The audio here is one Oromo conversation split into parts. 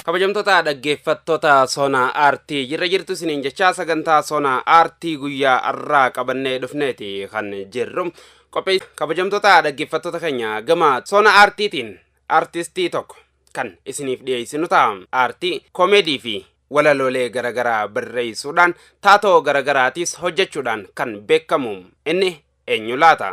Kabajamtoota dhaggeeffattoota Sona Aartii jirra jirtu isiniin jechaa sagantaa Sona Aartii guyyaa har'aa qabannee dhufneeti kan jirru. Qophii kabajamtoota dhaggeeffattoota keenya gama Sona Aartiitiin aartistii tokko kan isiniif dhiyeessinu ta'a. Aartii koomeedii fi walaloolee garaagaraa barreessuudhaan taatoo garaagaraatiis hojjechuudhaan kan beekamu inni eenyu laata?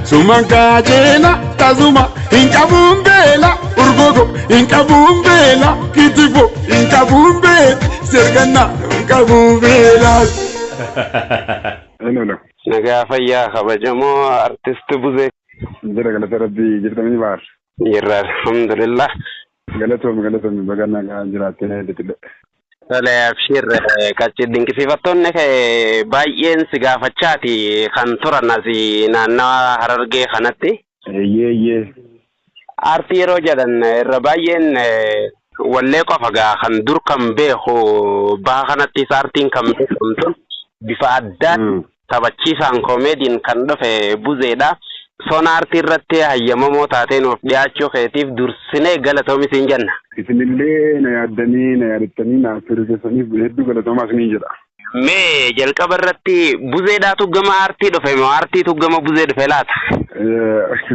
Suman kaajela tasuma hin qabuun beela urgogo hin qabuun beela kitifo hin qabuun beela serganna hin qabuun beela. Hello, hello. Nagaa fayyaa kabajamoo artist Buzee. Jira galata rabbii jirtanii baar. Jirra alhamdulillah. Galatoomi galatoomi baga nagaan jiraattee deebi'e. Tole abshir qacci dinqisiifattoonni kee baay'een si gaafachaati kan turan asi naannawa harargee kanatti. Eeyyee eeyyee. Aartii yeroo jedhan irra baay'een wallee qofa gaa kan dur kan beeku baha kanattis aartiin kan beekamtu bifa addaan Taphachiisaan koomeediin kan dhufe Buzeedha. Sona Artii irratti hayyamamoo taatee nuuf dhiyaachuu keetiif dursinee galatoomi siin jenna. Isinillee na yaaddanii, na yaadattanii naaf turuu keessaniif hedduu galatoomaa isiniin jedha. Mee jalqaba irratti Buzeedhaatu gama aartii dhufe moo aartiitu gama Buzee dhufe laata?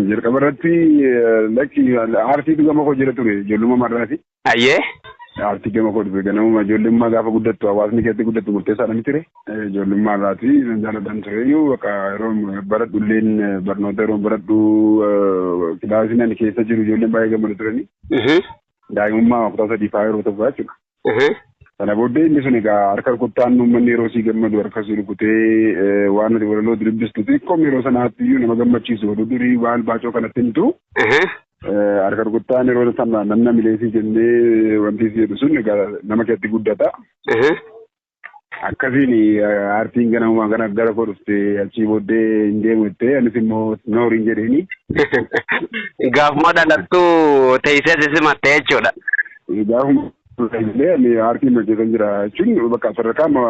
Jalqaba irratti lakki aartiitu gama koo jira ture ijoollummaa marraati. Hayyee. Aartii gama koo dhufe ganamuma ijoollummaa gaafa guddattu hawaasni keessatti guddattu murteessaadha miti ree? Ijoollummaa irraati nan jaaladhan tureyyuu bakka yeroo baradhu illeen barnoota yeroo baradhu kilaasii nan keessa jiru ijoolleen baay'ee gammadu turani. Daa'imummaa kutaa sadii fa'aa yeroo tokko jechuudha. Sana booddee inni sun egaa harka rukuttaan uummanni yeroo sii gammadu harka sii rukutee waan ati walaloo dubbistu xiqqoom yeroo sanaatti iyyuu nama gammachiisu oduu durii waan baacoo kanatti himtu. Harka rukuttaan yeroo sana namna mileesii jennee wanti si jedhu sun egaa nama keessatti guddata. Ehe. Akkasiin aartiin ganamumaan kana gara koo dhufte achii booddee hin deemu jettee anis immoo nooriin jedheeni. Gaafuma dhalattu teessee si simatte jechuudha. Gaafuma Illee ani aartii hin hojjetan jira jechuun bakka sadarkaa amma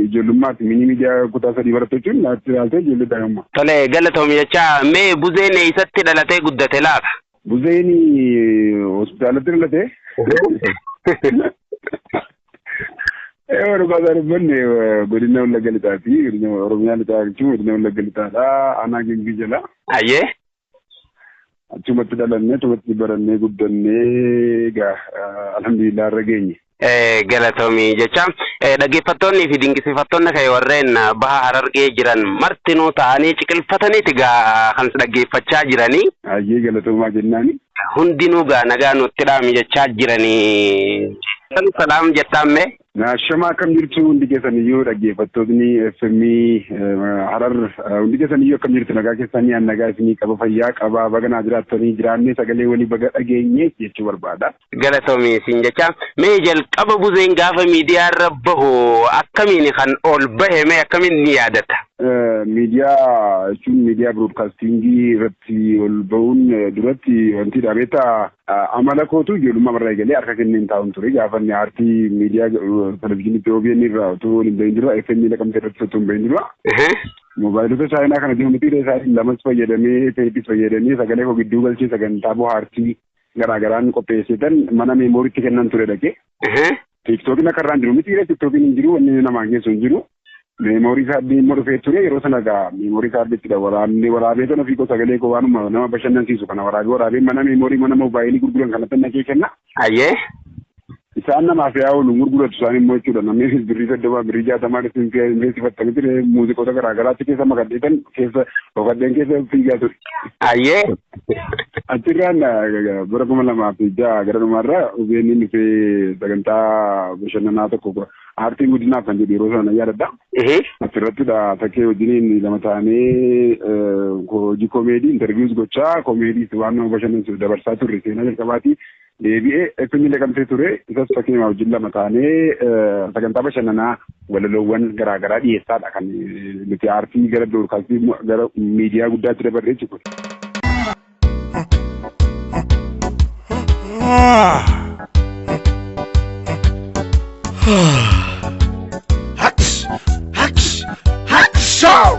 ijoollummaatti mini miidiyaa kutaa sadii baratte jechuun aartii ilaaltee ijoollee daa'imummaa. Tole galatoomi jechaa mee buzeen eessatti dhalatee guddate laata? Buzeen hospitaalatti dhalate. Eewa dhugaasaa dubbanne godina Wallagga Lixaati. Godina Oromiyaa Lixaa jechuun godina Wallagga Lixaadha. Aanaa Gimbii jala. Ayyee. Achumatti dhalannee achumatti barannee guddannee egaa alhamdulillah irra geenye. Galatoomii jecha dhaggeeffattoonnii fi dinqisiifattoonni kee warreen baha harargee jiran martinuu ta'anii ciqilfataniiti gaa kan si dhaggeeffachaa jiranii. Hayyee galatoomaa jennaani. Hundinuu gaa nagaa nutti dhaami jechaa jiranii. Salaam jettaan mee? Ashama akkam jirtu hundi keessaniyyuu dhaggeeffattootni FM Harar hundi keessaniyyuu akkam jirtu nagaa keessanii an nagaa isinii qaba fayyaa qaba baga naa jiraattanii jiraannee sagalee walii baga dhageenye jechuu barbaada. Galatomi isin jecha mee jalqaba buzeen gaafa miidiyaa irra bahu akkamiin kan ol bahe mee akkamiin ni yaadata? Miidiyaa jechuun miidiyaa biroodkaastiingii irratti ol bahuun duratti wanti dhaabeetaa Amala kootu ijoollummaa irraa eegalee harka kenneen taa'uun ture. Gaafa inni aartii miidiyaa televizyiiniitti OBN irraa utuu hin bahin dura FM Naqamtee irratti utuu hin bahin dura moobaayilota chaayinaa kana ji'oomeetirii isaa lamas fayyadamee teepis fayyadamee sagalee koo gidduu galchee sagantaa bohaartii garaa garaan qopheesseetan mana meemooriitti kennan ture dhaqee. Tiiktookiin akka irraan jiru miti ree tiiktookiin hin jiru wanni namaan geessu hin jiru. Meemoorii kaardii immoo dhufee ture yeroo sana egaa meemoorii kaardiittidha waraabnee waraabee kan ofii koo sagalee koo waanuma nama bashannansiisu kana waraabee waraabee mana meemoorii mana moobaayilii gurguran kanatti naqee kenna. Ayyee. Isaan namaaf yaa oolu gurguratu isaan immoo jechuudha namni birrii soddoma birrii jaatamaa irratti hin fi'aa hin beeksifattanii ture muuziqoota garaa garaatti keessa makadheetan keessa dhokadheen keessa fiigaa ture. Ayyee. Achirraan bara kuma lamaa fi ja'a gara dhumaarra OBN dhufee sagantaa bashannanaa tokko aartiin guddinaaf kan jedhu yeroo sana yaadadha. Achirrattidha takkee wajjiniin lama taanee hojii koomeedii intarviiyuus gochaa koomeediis waan nama bashannansiisu dabarsaa turre seenaa jalqabaati. Deebi'ee FM Naqamtee ture. Isas fakkeenya wajjin lama taanee sagantaa bashannanaa walaloowwan garaa garaa dhiyeessaadha kan nuti aartii gara biroodkaastii gara miidiyaa guddaatti dabarree jiru. Hacks! Hacks! Hacks! Show!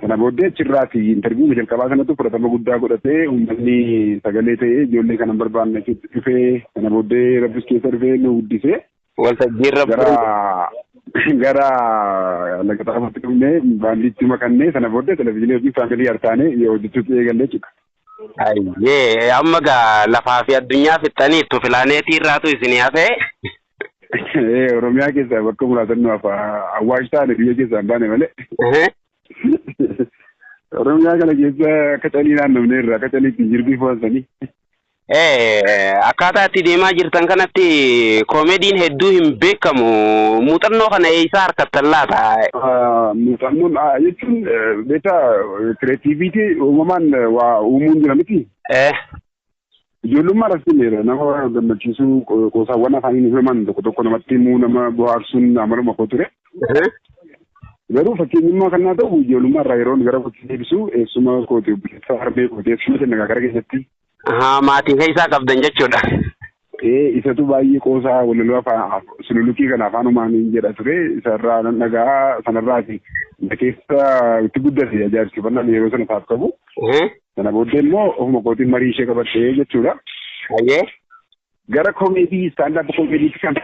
Sana booddee achirraati interviiwuma jalqabaa sanatu fudhatama guddaa godhate uummanni sagalee ta'ee ijoollee kana hin barbaanne achitti dhufee sana booddee rabbis keessa dhufee nu guddisee Waltajjiin rabbi gara gara laga xaafatti dhufnee baandiitti makannee sana booddee televizyiinii hojii faamilii hartaanee hojjechuutti eegallee jechuudha. Ayyee amma gaa lafaa fi addunyaa fixxaniittu pilaaneetii irraatu isinii hafee. Ee, Oromiyaa keessaa bakka muraasan nu hafa. Awwaash taane biyya keessaa hin baane malee. Oromiyaa kana keessa akka calii naannofnee irraa akka calii ittiin jirbii fo'ansanii. Ee, akkaataa itti deemaa jirtan kanatti koomediin hedduu hin beekamu. Muuxannoo kana eessaa harkattan laata? Muuxannoon Beektaa kireetiiviitii uumamaan waa uumuun jira miti. Eh. Ijoollummaa irratti meera nama gammachiisuu qoosaawwan afaaniin uumaman tokko tokko namatti himuu nama bohaarsuun amaluma koo ture. Garuu fakkeenyummaa kan naa ta'u ijoollummaa irraa yeroon gara kootti deebisu eessuma kooti obboleessa harmee kooti eessuma jenna gara keenyatti Ahaa maatii keessaa qabdan jechuudha. Ee isatu baay'ee qoosaa walaloo afaan sululukii kana afaanumaan hin jedha ture isarraa nan dhaga'a sanarraati na keessa itti guddate ajaa'ibsiifannaan yeroo sana isaaf qabu. Sana booddee immoo ofuma kootiin marii ishee qabadhee jechuudha. Hayyee. Gara komeedii stand up komeediitti kan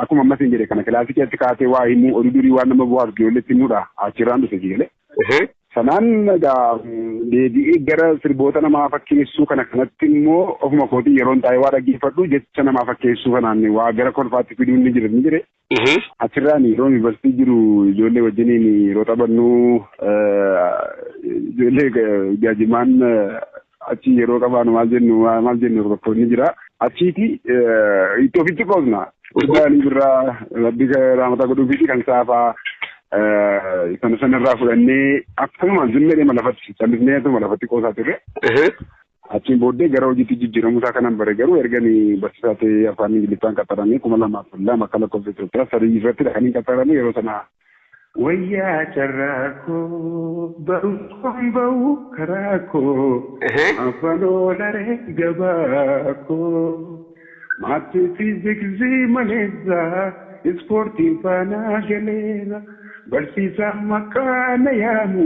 akkuma amma isin jedhe kana kilaasii keessatti kaatee waa himuu oduu durii waan nama bu'aaf ijoolleetti himudha achirraan dhufe jigalee. Sanaan egaa deebi'ee gara sirboota namaa fakkeessuu kana kanatti immoo ofuma kootii yeroon taa'ee waa dhaggeeffadhu jecha namaa fakkeessuu kanaan waa gara kolfaatti fiduun ni jira ni jire. Achirraan yeroo yuunivarsiitii jiru ijoollee wajjiniin yeroo taphannu ijoollee jaajimaan achi yeroo qabaanu maal jennu maal jennu rakkoonni jira. Achiiti itti ofitti qoosna. Urgaanii birraa rabbi raamataa godhuufiiti kan saafaa sana sanarraa fudhannee akkuma zimmeedhuma lafatti callisneetuma lafatti qoosaa turre. Achiin booddee gara hojiitti jijjiiramuu isaa kanan bare garuu erga ani barsiisaa ta'ee afaan Ingiliffaan qaxaramee kuma lamaa fi lama akka lakkoofsa Itoophiyaa sadii irratti dha kan hin qaxarame yeroo sana Wayyaa carraa koo barumsaan ba'u karaa koo afaan oolaree gabaa koo maatii fiiziksii maleessaa ispoortiin faanaa galeera barsiisaan maqaa na yaamu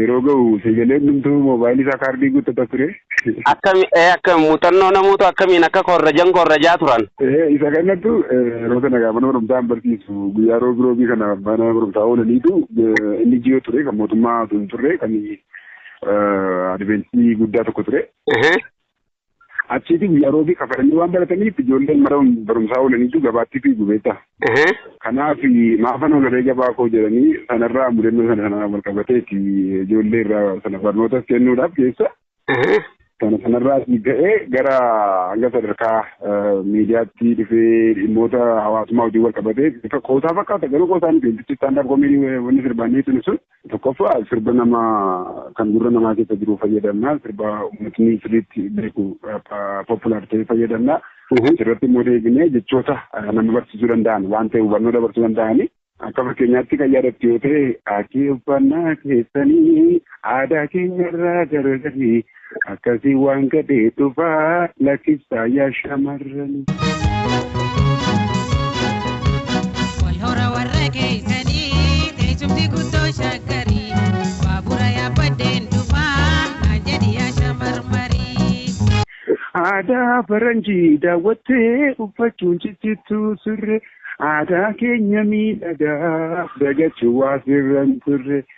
yeroo ga'u sagalee hundumtuu moobaayilii isaa kaardii guuttata ture. Akkami ee akkami muuxannoo namuutu akkamiin akka korrajan korrajaa turan. Ee isa kanattu yeroo sana gaafa nama barumsaa hin barsiisu guyyaa roobii roobii kana mana barumsaa oolaniitu inni jiyoo ture kan mootummaa osoo hin turre kan adventii guddaa tokko ture. Achiiti guyyaa roobii kafalanii waan barataniif ijoolleen mara barumsaa oolaniitu gabaatti fiigu beektaa. Kanaaf maafan oolaree gabaa koo jedhanii sanarraa mudannoo sana sanaan wal qabateeti ijoollee irraa sana barnootas kennuudhaaf keessa. Sana sanarraa ka'ee gara hanga sadarkaa miidiyaatti dhufee dhimmoota hawaasummaa wajjin wal qabatee bifa qoosaa fakkaata garuu qoosaa miti wantichi istaandaaf koomii wanni sirbaannee tuni sun. Tokkoffaa sirba nama kan gurra namaa keessa jiru fayyadamna. Sirba uummatni sirriitti beeku populaar ta'e fayyadamna. Asirratti immoo deebinee jechoota nama barsiisuu danda'an waan ta'e hubannoo dabarsuu danda'anii akka fakkeenyaatti kan yaadattu yoo ta'e aatii uffannaa keessanii aadaa keenyarraa garagarii Akkasii waan gadhee dhufaa lakkiftaa yaa shamarrani. Wal hora warra keessanii teessumti guddoo shaggarii baabura yaabbadheen dhufaa naan jedhi yaa shamarmarii. Aadaa faranjii daawwattee uffachuun ciccittuu surree aadaa keenya miidhagaa dagachuu waa sirran turre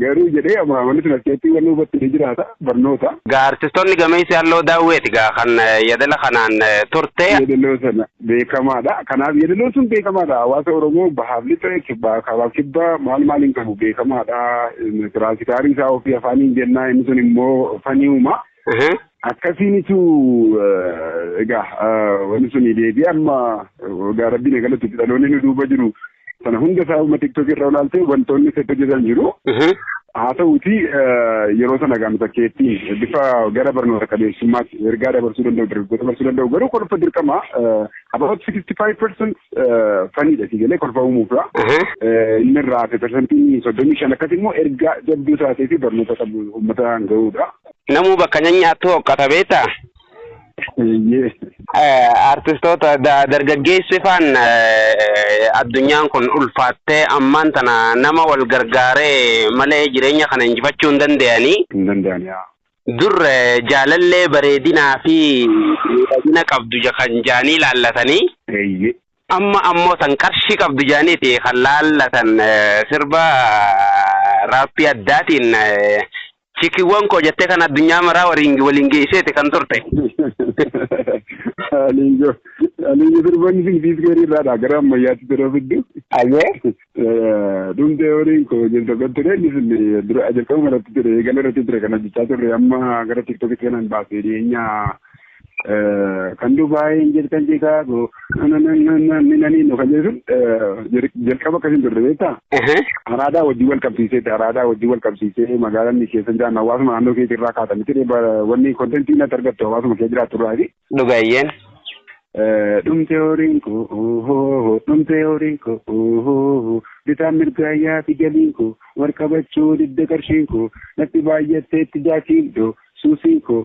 Garuu jedhee amma wanti sun askeettii wanni hubatti ni jiraata barnoota. Gaa artistoonni gameessi halloo daawweeti gaa kan yadala kanaan turte. Yadaloo sana beekamaadha. Kanaaf yadaloon sun beekamaadha. Hawaasa Oromoo bahaaf lixa kibbaa kaabaaf kibbaa maal maal hin qabu beekamaadha. Tiraansikaarii isaa ofii afaaniin jennaa inni sun immoo faniuma. Akkasiinitu egaa wanti sun deebi'ee amma egaa rabbiin eegalatti dhaloonni nu duuba jiru Sana hunda isaa uma tiktok irra olaaltee wantoonni seetti hojjetan jiru. Haa ta'uuti yeroo sana gaama fakkeetti bifa gara barnoota qabeessummaatti ergaa dabarsuu danda'u dargaggoota dabarsuu danda'u garuu kolfa dirqama about 65% faniidha si galee kolfa uumuufra. Inni irraa hafe persentiin soddomii shan akkas immoo ergaa jabduu taatee fi barnoota qabu uummataan ga'uudha. Namuu bakka nyanyaattu hoqqata beektaa? Eeyyee. Eh, Artistoota da- dargaggeessi faan eh, addunyaan kun ulfaattee ammaan tana nama wal gargaaree malee jireenya kana injifachuu hin danda'anii. Hin danda'ani yaa. Dur eh, jaalallee bareedinaa fi miidhagina qabdu ja- kan jaanii laallatanii. Eeyyee. amma ammoo tan qarshii qabdu jaaniiti kan laallatan eh, sirba eh, raappii addaatiin eh, Chikiwwan koo jettee kan addunyaa maraa waliin waliin geesseeti kan turte. Aliinjo aliinjo sirboonni sun siis garii irraadha gara ammayyaatti yeroo fiddu. Ayyee. Dhumtee horiin koo jirtu kan ture inni sun dura jalqabuma irratti ture eegala irratti ture kan hojjechaa turre amma gara tiktokitti kanan baasee dhiyeenya kan Dubaayii hin jirtan Chicaagoo minaniinno kan jedhu jalqaba akkasiin turre beektaa? Araadaa wajjin wal qabsiiseeti araadaa wajjin wal qabsiisee magaalaan ni keessa jiraanna hawaasuma naannoo keetii irraa kaata miti wanni kontentii natti argattu hawaasuma kee jiraattu irraa fi. Dhugaayyeen. Dhumtee horiin koo dhumtee horiin koo bitaan mirgaayyaa fi galiin koo wal qabachuu didda qarshiin koo natti baay'atteetti jaakiin doo suusiin koo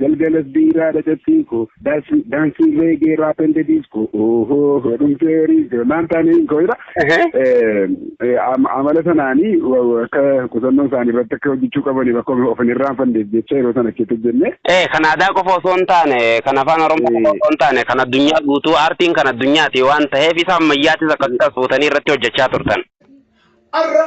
Galgalas biiraa dhacattiin koo Daansi daansi reegee raap ende diiskoo Ohoo dhumtee riizee maan taaniin koo jedha. Ehe. Eh, am- Amala sanaanii wa- wa- akka qusannoo isaanii irratti akka hojjechuu qabaniif akka of hin irraanfanneef jecha yeroo sana achitti hojjenne. Ee kan aadaa qofa osoo hin taane kan afaan oromoo qofa osoo hin taane kan addunyaa guutuu aartiin kan addunyaati waan ta'eef isa ammayyaatis akkasumas fuutanii irratti hojjechaa turtan. Arra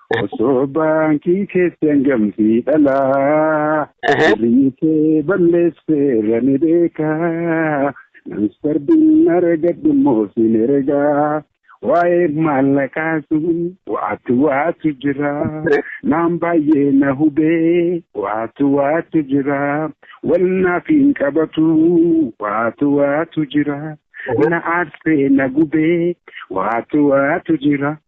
Osoo baankii keessi hangam si dhalaa. Birrii kee balleesseerra ni beekaa. Namsardiin argadhu immoo sin ergaa. Waa'ee maallaqaa sun waatu waatu jira. Naan baay'ee na hubee waatu waatu jira. Wal naaf hin qabatu waatu waatu jira. Na aarsee na gubee waatu waatu jira.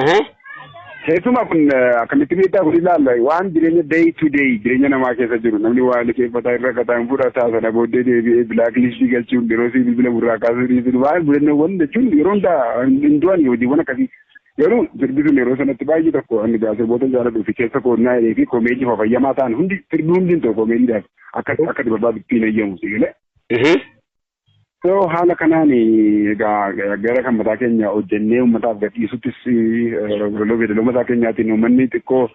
Ehe. Keessumaa kun eh, akkamitti miidhaa kun ilaalla waan jireenya day to day jireenya namaa keessa jiru namni waa liqeeffataa irra kataa hin fudhataa sana booddee deebi'ee bilaak liistii galchuun yeroo sii bilbila burraa kaasuu dhiisuun waan mudannoowwan jechuun yeroo hundaa hin du'an hojiiwwan akkasii garuu sirbi sun yeroo sanatti baay'ee tokko ani gaa sirboota jaaladhu fi keessa koonnaa jedhee fi komeedii fafayyamaa ta'an hundi sirbi hundi hin ta'u komeediidhaaf akka akka barbaadu ittiin eeyyamu si galee Ehe. So haala kanaan egaa gara kan mataa keenya hojjennee uummataaf gadhiisuttis walaloo beedaloo mataa keenyaatiin uummanni xiqqoo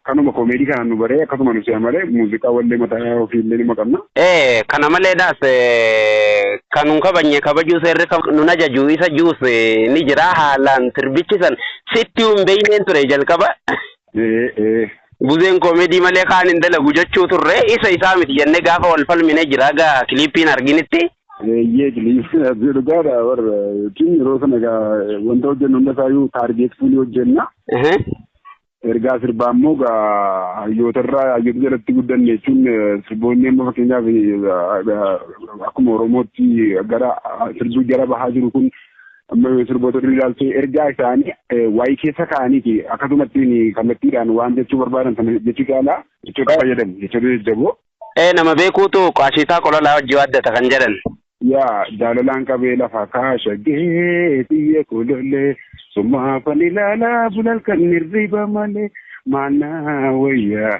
kanuma koomeedii kanaan nu baree akkasuma nu si'a malee muuziqaa wallee mataa ofiillee nima qabna. Ee kana maleedhaas eh, kan nun kabajne kabajuu seerri kab- nun ajaju isa juus eh, ni jira haalaan sirbichi san sitti hin beeyneen ture jalqaba Ee ee. Buzeen koomedii malee kaan hin dalagu jechuu turre isa isaa miti jennee gaafa wal falmine jira gaa kiliippiin arginitti. Eeyyee kiliippiin arginu dhugaadha warra jechuun yeroo sana gaa wanta hojjennu hunda isaayyuu taargeet fuunii hojjenna. Ergaa sirbaa immoo gaa hayyootarraa hayyoota jalatti guddanne jechuun sirboonni amma fakkeenyaaf akkuma Oromootti gara sirbi gara bahaa jiru kun sirboota durii ilaaltee ergaa isaanii waayii keessa kaa'aniiti akkasumattiin kallattiidhaan waan jechuu barbaadan sana jechuu caalaa jechoota fayyadamu jechoota jajjaboo. Ee nama beekuutu qaashiitaa qolalaa hojii waaddata kan jedhan. Yaa jaalalaan qabee lafa kaashagee biyya kolollee summaafan ilaalaa bulalkan hirriba malee maannaa wayyaa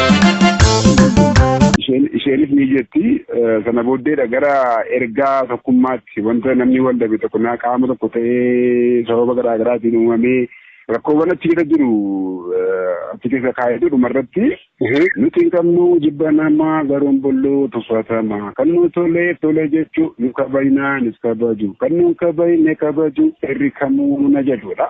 Isheen isheenis ni jetti eh, sana booddeedha gara ergaa tokkummaatti wanta namni wal dhabe tokko naa qaama tokko ta'ee sababa garaa garaatiin uumamee rakkoowwan achi keessa jiru eh, achi keessa kaa'eetu dhumarratti nuti hin qabnu jibba namaa garuun bolluu tuffatama kan nu tole tole jechuu nu kabajnaa nis kabaju kan nu hin kabajne kabaju irri kamuu na jedhudha.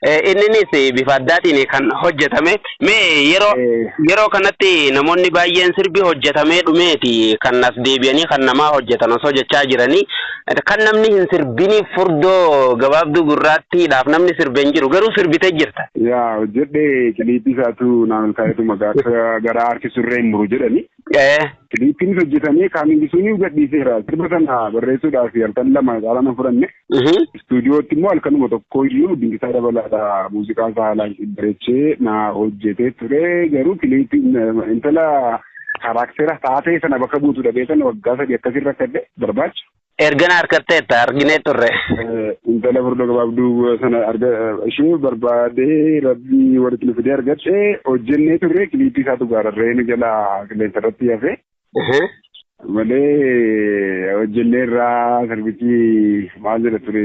Eh, Inninis eh, bifa addaatiin kan hojjetame. Mee yeroo Eh. yeroo kanatti namoonni baay'een sirbi hojjetamee dhumeeti kan as deebi'anii kan namaa hojjetan osoo jechaa jiranii eh, kan namni hin sirbiniif furdoo gabaabduu gurraattiidhaaf namni sirbe hin jiru garuu sirbitee jirta. Yaa hojjedhe kiliipii isaatu naan olkaa'etu maqaa akka gara aarti surree hin muru jedhani. Ee. Kiliippiinis hojjetamee Kaamingisuuniyu gadhiiseera. Sirba sana barreessuudhaaf halkan lama caalaa nan fudhanne. Istuudiyootti immoo halkanuma tokkoyyuu Dinqisaa Dabalaadha muuziqaa isaa haalaan bareechee na hojjetee ture. Garuu kiliippiin intala kaaraaktera taatee sana bakka buutu dhabee sana waggaa sadii akkasiin rakkadhe barbaacha. Erga na harkatteetta arginee turre. Intala furda gabaabduu sana arga ishee barbaadee rabbii walitti nu fidee argadhe hojjennee turre kiliippii isaatu gaararree nu jala qilleensa irratti hafe. Malee hojjennee irraa sirbichi maal jedha ture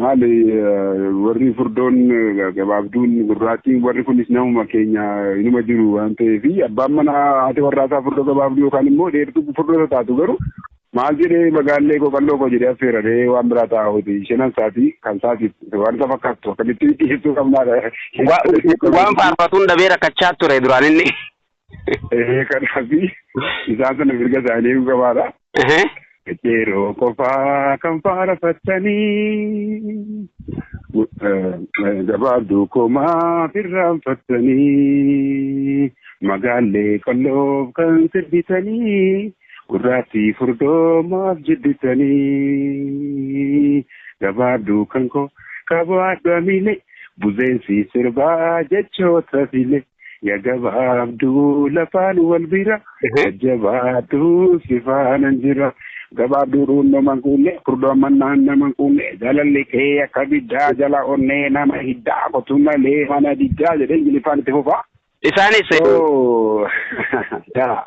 Maali warri furdoon gabaabduun gurraattiin warri kunis namuma keenya inuma jiru waan ta'eef abbaan manaa haati warraasaa furdoo gabaabduu yookaan immoo dheertuu furdoota taatu garuu maal jedhee magaallee koo qalloo koo jedhee affeeraree waan biraa ta'a hojii shanan saatii kan saatiif waan isa fakkaattu akkamitti dhiyeessuu qabnaadha. Waan faarfatuun dhabee rakkachaa ture duraan inni. Ee kanaaf isaan sana mirga isaanii eeguu qabaadha. Ehe. Yeroo qofaa kan faarfattanii gabaabduu komaa firraanfattanii magaallee qalloof kan sirbitanii gurraattii furdoomaaf jibbitanii gabaabduu kan koo qabaadhu amilee buzeensi sirbaa jechoota filee. Ya gabaabduu lafaan wal bira jajjabaadhu si faanan jira. Gabaabduu dhuunnoman kuunne furdoo mannaan naman kuunne jaalalli kee akka biddaa jala onnee nama hiddaa kotu malee mana diddaa jedhee ingiliffaan itti fufaa. Isaanis. So yaa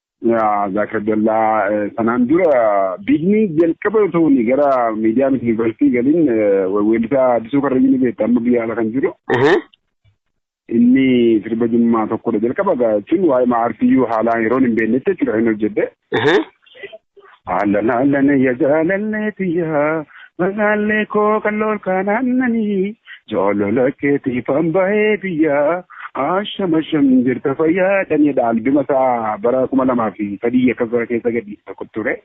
Zaakir Abdallaa sanaan dura biigni jalqaba otoo inni gara miidiyaa miti yuunivarsiitii galiin weellisaa Addisuu Karrayyuu ni beekta amma biyya ala kan jiru. Inni sirba jimmaa tokkodha jalqaba jechuun waa'ee maartiyyuu haalaan yeroon hin beeknetti jechuudha kan hojjedhe. Ahlan ahlan ya jaalallee tiyya magaallee koo qallool kaan aannanii jaalala keetiifan bahee biyya asham asham jirta fayyaa dhanidha albima isaa bara kuma lamaa fi sadii akkas bara keessa gadhiise tokko ture.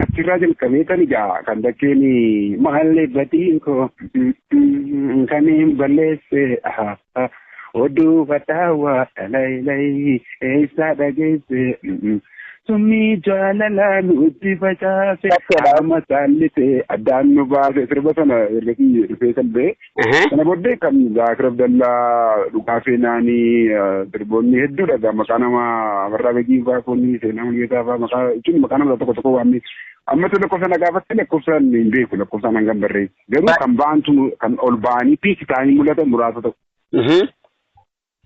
Achirraa jalqabee tan ijaa kan bakkeen maallee batiin koo kan hin balleesse Oduu badhaawaa dhalayilayi eessaa dhageesse summii jaalalaa nutti facaase qaama saallite addaan nu baase sirba sana ergasii dhufee kan ba'e sana booddee kan zaakir abdallaa dhugaa seenaanii sirboonni hedduudha gaa maqaa nama amarraa begii faa kunni seenaa mul'ataa faa maqaa jechuun maqaa nama tokko tokko waamni amma tu lakkoofsa na gaafatte lakkoofsaan hin beeku lakkoofsaan hangam barreessu. Garuu kan ba'antu mu- kan ol ba'anii piisi ta'anii mul'atan muraasa ta'u. Mhm.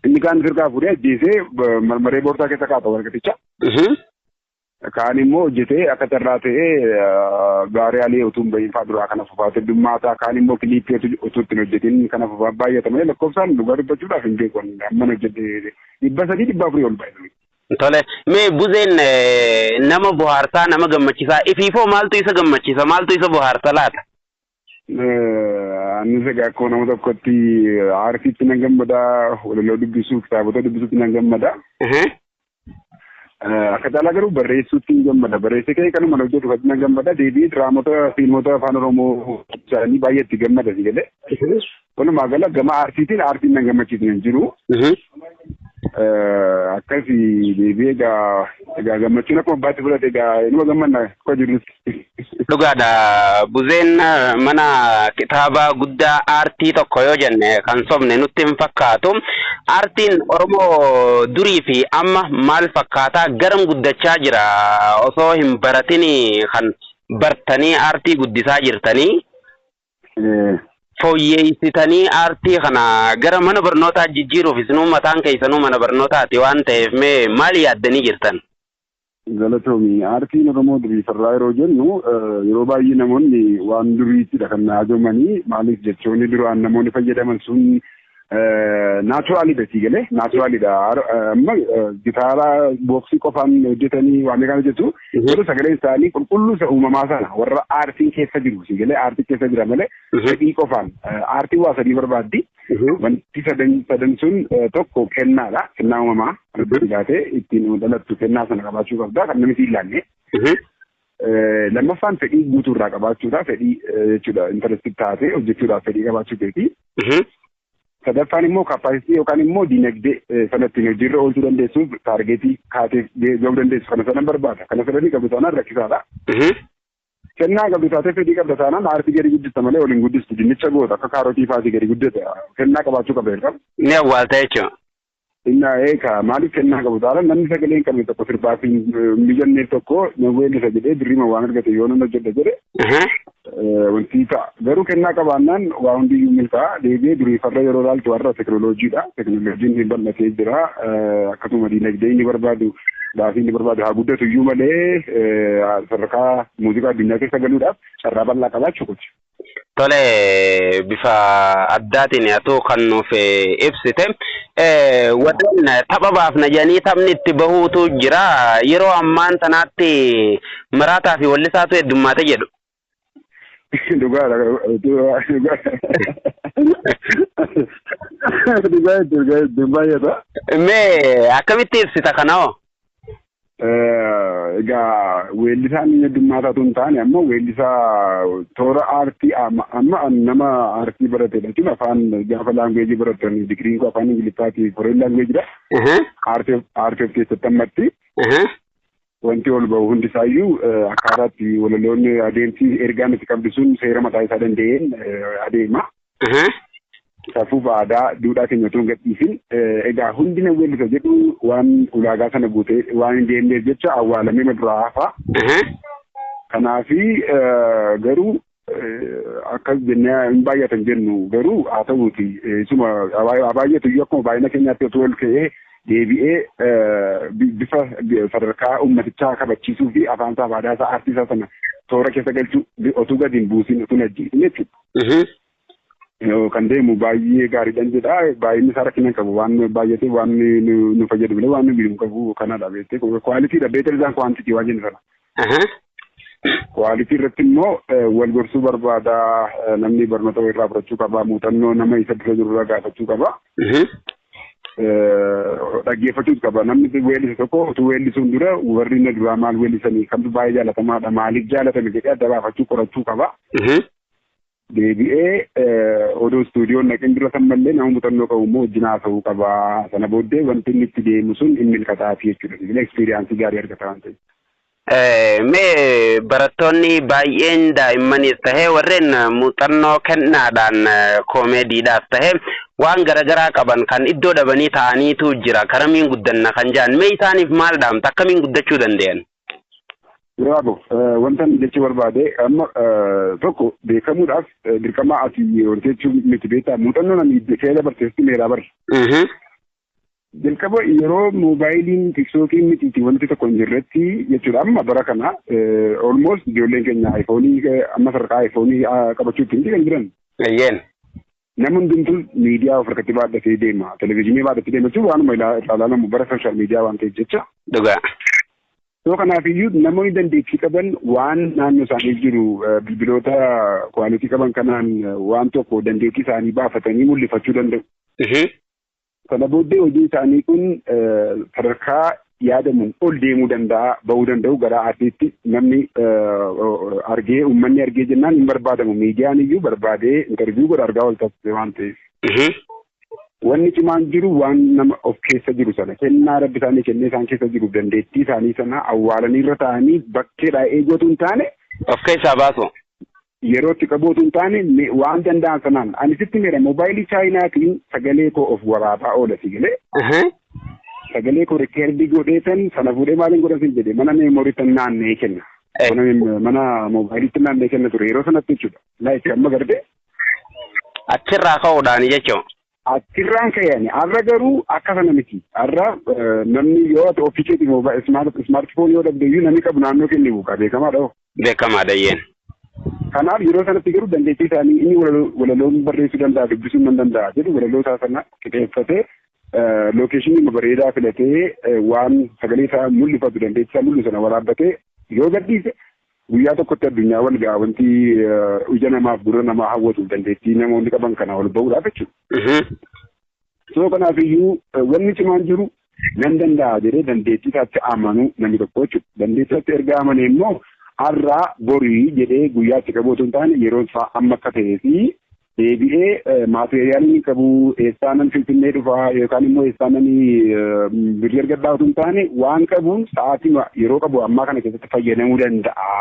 Inni kaan firqaa fuudhee ajjeesee ba- marmaree boorsaa keessa kaata warqaticha. Mhm. Kaan immoo hojjetee akka carraa ta'ee ah, gaarii alee utuu hin bahin fa'aa duraa kana fufaa teddummaa ta'a. Kaan immoo kiliippii utuu utuu ittiin hojjetiin kana fufaa baay'ata malee lakkoofsaan dhugaa dubbachuudhaaf hin beeku. Amman hojjedhe dhibba sadii dhibba afurii ol ba'e. Tole mee buzeen nama bohaarsaa nama gammachisaa ifiifoo maaltu isa gammachisa maaltu isa bohaarsa laata? Annis egaa akkuma nama tokkotti aartiitti nan gammada walaloo dubbisuu kitaabota dubbisuutti nan gammada. Akka caalaa garuu barreessuutti nan gammada barreessee ka'ee kanuma na hojjetu irratti nan gammada deebi'ee diraamota fiilmota afaan oromoo isaanii baay'ee itti gammada si galee. Walumaa gala gama aartiitiin aartiin nan gammachiisne hin jiru. Akkasi deebi'ee egaa egaa gammachuun akkuma abbaatti fudhate egaa inuma gammanna akka jirrutti. Dhugaadha. Buzeen mana kitaabaa guddaa aartii tokko yoo jenne kan sobne nutti hin fakkaatu. Aartiin Oromoo durii fi amma maal fakkaataa garam guddachaa jira osoo hin baratinii kan bartanii aartii guddisaa jirtanii fooyyeessitanii aartii kana gara mana barnootaa jijjiiruuf isinuu mataan keessanuu mana barnootaati waan ta'eef mee maal yaaddanii jirtan? Galatoomi. Aartiin Oromoo duriisarraa yeroo jennu yeroo baay'ee namoonni waan duriittidha kan haajomanii maaliif jechoonni duraan namoonni fayyadaman sun naachuraalidha sii galee naachuraalidha amma gitaara booksii qofaan hojjetanii waan kana hojjetu garuu sagaleen isaanii qulqulluu isa uumamaa sana warra aartiin keessa jiru sii galee aartii keessa jira malee fedhii qofaan aartiin waa sadii barbaaddi wanti sadan sadan sun tokko kennaadha kennaa uumamaa argaa taatee ittiin dhalattu kennaa sana qabaachuu qabda kan namni hin laanne Lammaffaan fedhii guutuu irraa qabaachuudha. Fedhii jechuudha intarastii taatee hojjechuudhaaf fedhii qabaachuu keeti. Sadaffaan immoo kaappaasitii yookaan immoo dinagdee sana ittiin hojiirra oolchuu dandeessuuf taargeetii kaateef gahuu dandeessu kana sana barbaada. Kana sadanii qabdu taanaan rakkisaadha. Kennaa qabdu taatee fedhii qabda taanaan aartii gadi guddista malee waliin guddistu dinnicha goota akka kaarotii faatii gadi guddata. Kennaa qabaachuu qabda irra. Ni awwaalta jechuudha. Inna eeka maaliif kennaa qabu taala namni sagalee hin qabne tokko sirbaaf hin mijanneef tokko na weellisa jedhee birriima waan argate yoo nan hojjedha jedhe wanti ta'a. Garuu kennaa qabaannaan waa hundiyyuu milkaa'a deebi'ee durii farra yeroo ilaaltu har'a teknooloojiidha. Teknooloojiin ni bal'atee jira. Akkasuma diinagdee inni barbaadu baasii inni barbaadu haa guddatu iyyuu malee sadarkaa muuziqaa addunyaa keessa galuudhaaf carraa bal'aa qabaa jechuudha. Tole bifa addaatiin atuu kan nuuf ibsite. Warreen tapha baafna jedhanii taphni itti bahuutu jira. Yeroo ammaan tanaatti maraataa fi wallisaatu heddummaate jedhu. Dhugaadha. Dhugaa jechuun baay'ata. Mee akkamitti ibsita kana hoo? Egaa weellisaan inni addummaata otoo hin taane amma weellisaa toora aartii amma amma nama aartii baratedha jechuun afaan gaafa laanguweejii baratan digiriin koo afaan ingiliffaati koreen laanguweejidha. Aartii of- aartii of keessatti ammatti wanti ol ba'u hundi isaayyuu eh, akkaataa itti walaloonni adeemsi ergaan itti qabdu sun seera mataa isaa danda'een eh, adeema. Aha. Safuu fi aadaa duudhaa keenya utuu hin gadhiisin egaa hundi na weellisa jedhu waan ulaagaa sana guutee waan hin deemneef jecha awwaalamee na duraa hafa. Aha. Kanaafi eh, garuu eh, akkas jennee hin baay'atan jennu garuu haa ta'uuti eh, isuma haa baay'atu iyyuu akkuma baay'ina keenyaatti otoo ol ka'ee deebi'ee eh, bi- bifa bi- sadarkaa uummatichaa kabachiisuu fi afaan isaa fi aadaa isaa aartii isaa sana toora keessa galchuu bi- otuu gadi hin buusin otuu hin ajjeesin jechuudha. kan deemu baay'ee gaariidhaan jedha baay'inni isaa rakkina hin qabu waan baay'ate waan nu fayyadu malee waan nu miidhu hin qabu kanadha beektee kwaalitiidha beetel isaan kwaantitii waan jennu sana. Kwaalitii irratti immoo wal gorsuu barbaada namni barnoota irraa fudhachuu qaba muuxannoo nama isa dura jiru irraa gaafachuu qaba. dhaggeeffachuus qaba namni weellisa tokko utuu weellisuun dura warri inni duraa maal weellisanii kamtu baay'ee jaalatamaadha maaliif jaalatame jedhee adda baafachuu qorachuu qaba. Deebi'ee odoo istuudiyoon dhaqin dura san mallee nama muuxannoo qabu immoo wajjin haasa'uu qaba sana booddee wanti inni itti deemu sun hin milkataafi jechuudha sila ekspiriyaansii gaarii argata waan ta'eef. Mee barattoonni baay'een daa'immanis tahe warreen muuxannoo kennaadhaan koomeediidhaas tahe waan garagaraa qaban kan iddoo dhabanii taa'aniitu jira karamiin guddanna kan jedhan mee isaaniif maal dhaamta akkamiin guddachuu dandayan? Bravo. Wantan jechuu barbaade amma tokko beekamuudhaaf dirqama ati horteechuu miti beektaa muuxannoon ani iddoo kee dabarteessi meeraa barre. Jalqaba yeroo moobaayiliin tiktookiin mitiiti wanti tokko hin jirretti jechuudha amma bara kana olmost ijoolleen keenya ayfoonii amma sadarkaa ayfoonii qabachuutti miti kan jiran. Eeyyeen. Nama hundumtuu miidiyaa of harkatti baadhatee deema televizyiinii baadhatee deema jechuun waanuma irraa ilaalamu bara sooshaal miidiyaa waan ta'eef jecha. Dhugaa. Yoo kanaaf iyyuu namoonni dandeettii qaban waan naannoo isaanii jiru bilbiloota kwaalitii qaban kanaan waan tokko dandeettii isaanii baafatanii mul'ifachuu danda'u. Sana booddee hojiin isaanii kun sadarkaa yaadamuun ol deemuu danda'a, ba'uu danda'u gara aartiitti namni argee uummanni argee jennaan hin barbaadamu. Miidiyaan iyyuu barbaadee intarviiyuu godha argaa wal taasise waan ta'eef. Wanni cimaan jiru waan nama of keessa jiru sana kennaa rabbi isaanii kennee isaan keessa jiru dandeettii isaanii sana awwaalanii irra taa'anii bakkeedhaa eeguu otoo hin taane. Of keessaa baasu. Yeroo itti qabuu utuu hin taane me- waan danda'an sanaan ani sitti meera moobaayilii chaayinaatiin sagalee koo of waraabaa oola si galee Aha. sagalee koo rikkeerdii godheetan sana fuudhee maaliin godhan sin jedhe mana meemoriitan naanna'ee kenna. Eh. Mana meem- mana moobaayiliitti naanna'ee kenna ture yeroo sanatti jechuudha. Laayik amma garte Achirraa ka'uudhaan jechuun. Achirraan ka'e ani har'a garuu akka sana miti. Har'a namni yoo ati ofii keetii mooba ismaarti foon yoo dhabde iyyuu namni qabu naannoo kee ni buuqa beekamaadha hoo. Beekamaa dayyeen. Kanaaf yeroo sanatti garuu dandeettii isaanii inni walaloon barreessuu danda'a dubbisuun nan danda'a jedhu walaloo isaa sana qixeeffatee lookeeshinii bareedaa filatee waan sagalee isaa mul'ifatu dandeettii isaa mul'isu sana waraabbatee yoo gadhiise Guyyaa tokkotti addunyaa wal ga'a wanti ija namaaf gurra namaa hawwatuuf dandeettii namoonni qaban kana ol ba'uudhaaf jechuudha. Soo kanaaf iyyuu wanni cimaan jiru nan danda'a jedhee dandeettii isaatti amanuu namni tokko jechuudha. Dandeettii isaatti erga amanee immoo har'aa borii jedhee guyyaa itti qabuu otoo hin taane yeroon isaa amma akka ta'ee fi deebi'ee maateeriyaalii ni qabu eessaanan finfinnee dhufaa yookaan immoo eessaanan birrii argadhaa utuu hin taane waan qabuun sa'aatii yeroo qabu ammaa kana keessatti fayyadamuu danda'a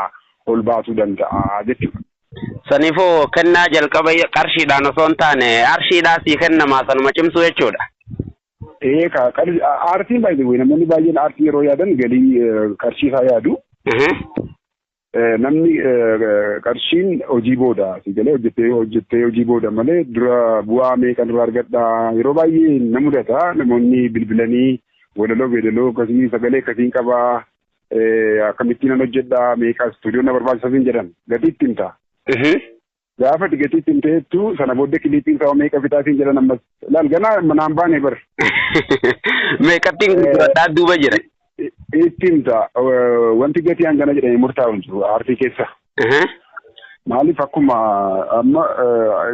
ol baasuu danda'a jechuudha. Saniifuu kennaa jalqaba qarshiidhaan osoo hin taane arshiidhaa sii kennamaa sanuma cimsuu jechuudha. Ee ka aartiin baay'ee namoonni baay'een aartii yeroo yaadan galii qarshii isaa yaadu. Namni qarshiin hojii booda si galee hojjettee hojjettee hojii booda malee dura bu'aa meeqan irraa argadha yeroo baay'ee na mudata namoonni bilbilanii walaloo beedaloo akkasii sagalee akkasiin qaba akkamittiin nan hojjedha meeqa istuudiyoo na barbaachisa siin jedhan gatii itti himta. Gaafa ati gatii itti himte heettu sana booddee kiliipiin isaa meeqa fixaa siin jedhan ammas laal ganaa manaan baane bar. Meeqattiin gurguradhaa duuba jira. Itti himta wanti gatii hangana jedhanii murtaa'u hin jiru aartii keessa. Maaliif akkuma amma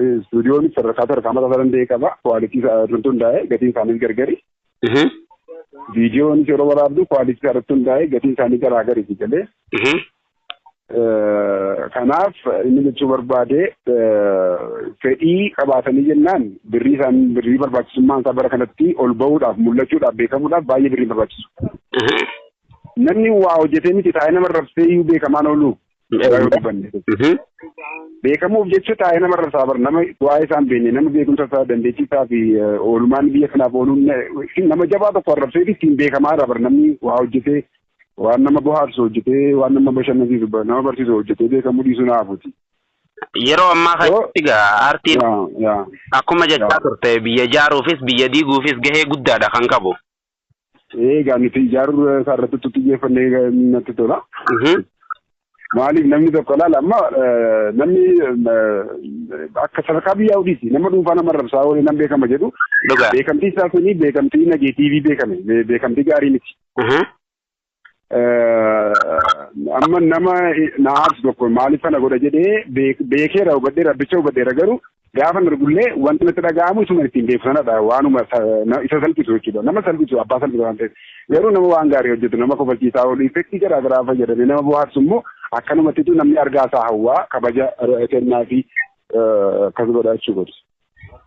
istuudiyoon sadarkaa sadarkaa mataa isaa danda'e qaba kwaalitii isaa irratti hundaa'e gatiin isaaniis gargari. Viidiyoonis yeroo waraabdu kwaalitii isaa irratti hundaa'e gatiin isaanii garaagari galee. Kanaaf inni jechuu barbaade fedhii qabaatanii jennaan birrii isaan birrii barbaachisummaan isaa bara kanatti ol ba'uudhaaf mul'achuudhaaf beekamuudhaaf baay'ee birrii barbaachisu. Namni waa hojjetee miti taa'ee nama rabsee iyyuu beekamaan oolu. Beekamuuf jecha taa'ee nama rabsaa bara nama waa'ee isaa hin beekne nama beekumsa isaa dandeettii isaa fi oolmaan biyya kanaaf ooluun nama jabaa tokko arrabsee ittiin beekamaa irraa bara namni waa hojjetee Waan nama bohaarsu hojjetee waan nama bashannansiisu ba- nama barsiisu hojjetee beekamuu dhiisuu na hafuuti. Yeroo ammaa Yoo- kanatti egaa aartiin Yaa yaa akkuma jechaa yaa. turte biyya ijaaruufis biyya diiguufis gahee guddaadha kan qabu. Egaa nuti ijaaruu isaa irratti xiyyeeffannee natti tola. Mhm. Maaliif namni tokko laala amma namni akka sadarkaa biyyaa oliiti nama dhuunfaa nama rabsaa oolee nan beekama jedhu beekamtii isaa suni beekamtii nageetiivii beekame beekamtii gaarii miti. Amma nama na aarsu tokko maaliif kana godha jedhee beekeera hubadheera abbicha hubadheera garuu Gaafan argullee wanti natti dhaga'amu isuma ittiin beeku sanadha. Waanuma isa salphisu jechuudha. Nama salphisu abbaa salphisa waan ta'eef. Garuu nama waan gaarii hojjetu nama kofalchiisaa oolu effektii garaa garaa fayyadamee nama bohaarsu immoo akkanumattitu namni argaa isaa hawwaa kabaja kennaa fi akkas godha jechuu godhu.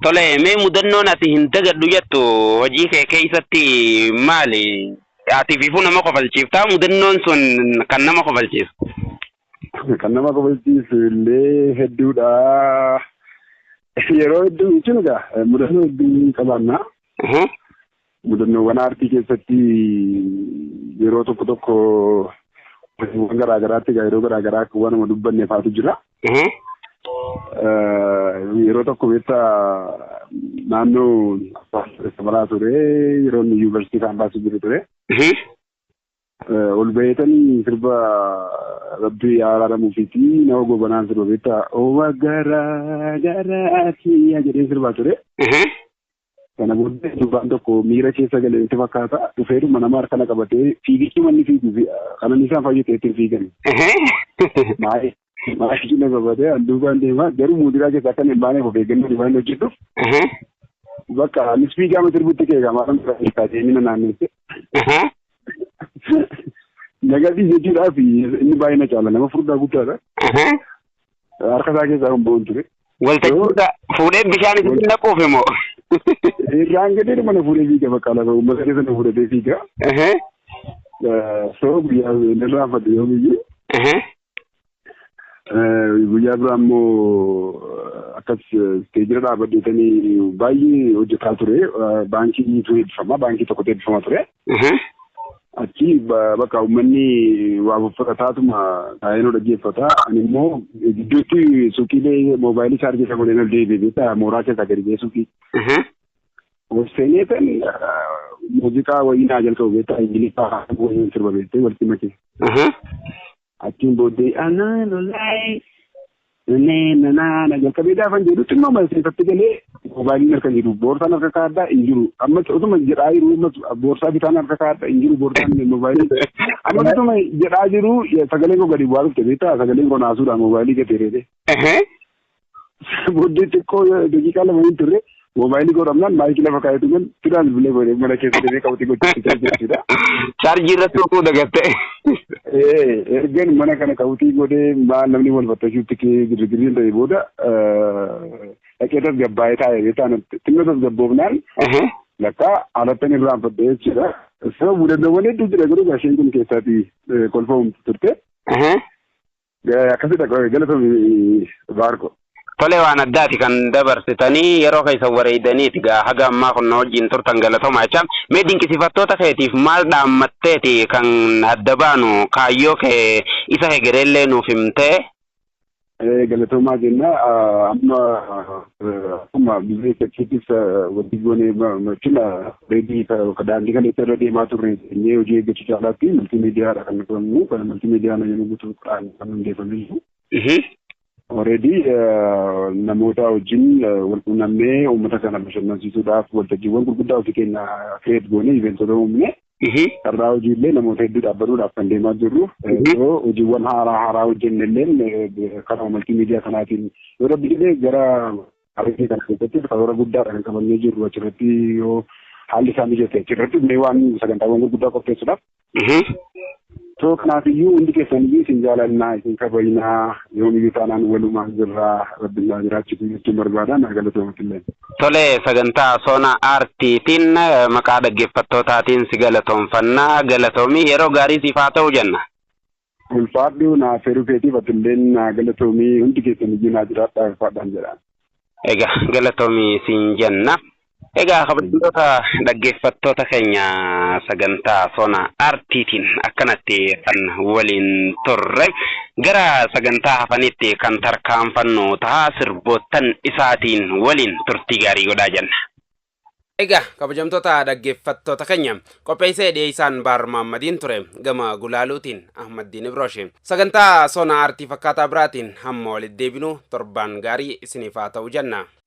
Tole mee mudannoon ati hin dagadhu jettu hojii kee keessatti maali? Ati fiifuu nama kofalchiiftaa mudannoon sun kan nama kofalchiisu. Kan nama kofalchiisu illee hedduudha. Yeroo hedduu jechuun egaa mudannoo hedduu qabaanna. Mudannoowwan aartii keessatti yeroo tokko tokko hojiiwwan garaa garaatti egaa yeroo garaa garaa akka waanuma dubbanne faatu jira. Yeroo tokko beekta naannoo Samaraa ture yeroo inni yuunivarsiitii kaampaasii jiru ture. Ol baheetanii sirba rabbi yaa araaramuufiiti nama gobanaan sirba beektaa owa garaa garaa kiyya jedhee sirbaa ture. Kana booddee durbaan tokko miira keessa galee itti fakkaata dhufeedhuma nama harkana qabatee fiigichuu manni fiigu kanan isaan fayyadee ittiin fiigan. Maayee Maashii na gabatee an duubaan deemaa garuu muuziqaa keessa akka hin baaneef of eeggannoo waan hojjedhuuf Aha. bakka anis fiigaa ma sirbutti kee gamaa kan biraa keessaa deemee na naanneesse. Aha. Nagadii jechuudhaa fi inni baay'ee na caala nama furdaa guddaadha. Aha. Harka isaa keessaa kan bo'oon ture. Waltajjiirra fuudhee bishaan itti naquuf immoo. Irraan gadee mana fuudhee fiiga bakka lafa uummata keessa na fuudhatee fiiga. Aha. Soo guyyaa inni irraanfadhe yoomiyyuu Aha. Guyyaa biraa immoo akkas isteejira dhaabadheetanii baay'ee hojjetaa ture. Baankii niitu eebbifama. Baankii tokkotu eebbifama ture. Achi bakka uummanni waa uffataatuma taa'een ol dhaggeeffata. Ani immoo gidduutti suuqiilee moobaayilii chaarjii isa godheen ol deebi'e beektaa mooraa keessaa gadi ba'ee suuqii. Obseeneetan muuziqaa wayii naa jalqabu beektaa Ingiliffaa wayii sirba beektee walitti makee. Achiin booddee anaa lolaayee nannee nanaa na jalqabee gaafan jedhu xinnoo maseefatti galee moobaayiliin harka jiru boorsaan harka kaaddaa hin jiru amma utuma jedhaa jiru boorsaa bitaan harka kaaddaa hin jiru boorsaan moobaayilii amma utuma jedhaa jiru sagaleen koo gadi bu'aa dhufte beektaa sagaleen koo naasuudhaan moobaayilii gateereete. Sana booddee xiqqoo daqiiqaa lama hin turre moobaayilii koo dhabnaan maayikii lafa kaa'etu nan sidaan bilbilee godhe mana keessa deemee qabatee gochuutti jira jechuudha. Chaarjii irratti utuu dagatte. Ee, ergan mana kana qabutii godhee maal namni wal fattashuutti kee girgirriin ta'e booda eh, dhaqee tasgabbaa'ee taa'e beektaa natti. Xinna tasgabboofnaan Ehe. lakka alattan irraan fadhee jechuudha. Sababa mudannoowwan hedduu jira garuu gasheen kun keessaati eh, kolfa humti turte. Ehe. Akkasidha galatomi baarko. Tole waan addaati kan dabarsitanii yeroo keessan wareeydaniiti gaa haga ammaa kun na wajjin turtan galatomaa jecha mee dinqisifattoota keetiif maal dhaammatteeti kan adda baanu kaayyoo kee isa hegereellee nuuf himtee. Galatoomaa jenna amma akkuma biyya keettis wanti goone machina reedii ka daandii kana irra deemaa turre jennee hojii eeggachuu caalaatti multiimiidiyaadha kan qabnu kan multiimiidiyaan yommuu guutuu kan hundeeffame jiru. Reedii namoota wajjin wal quunnamnee uummata kana bashannansiisuudhaaf waltajjiiwwan gurguddaa ofii keenya kireet goone iveentota uumne Ihii. Carraa hojii illee namoota hedduudhaaf banuudhaaf kan deemaa jirru. Yoo hojiiwwan haaraa haaraa hojjenne illee karaa maltii miidiyaa kanaatiin yoo rabbi jedhee gara argee kana keessatti karoora guddaadha kan qabannee jirru achirratti yoo haalli isaa mijate achirratti mee waan sagantaawwan gurguddaa qopheessuudhaaf. Soo kanaafiyyuu hundi keessaniyyuu isin jaalannaa isin kabajnaa yoomiyyuu taanaan walumaan jirraa rabbi naa jiraachisu jechuun barbaada naa galatoomatillee. Tole sagantaa Soona Aartiitiin maqaa dhaggeeffattootaatiin si galatoomfanna galatoomi yeroo gaarii siif haa ta'u jenna. Ulfaadhu naa feeruu keetiif atilleen naa galatoomi hundi keessaniyyuu naa jiraadhaa ulfaadhaan jedha. Egaa galatoomi siin jenna. Egaa kabajamtoota dhaggeeffattoota keenya sagantaa sona artiitiin akkanatti kan waliin turre gara sagantaa hafanitti kan tarkaanfannu ta'a sirboottan isaatiin waliin turtii gaarii godhaa jenna. Egaa kabajamtoota dhaggeeffattoota keenya qopheessee dhiyeessaan Baar Maammadiin ture gama gulaaluutiin Ahmaddiin Ibrooshe. Sagantaa sona artii fakkaataa biraatiin hamma walitti deebinu torbaan gaarii isiniif haa ta'u jenna.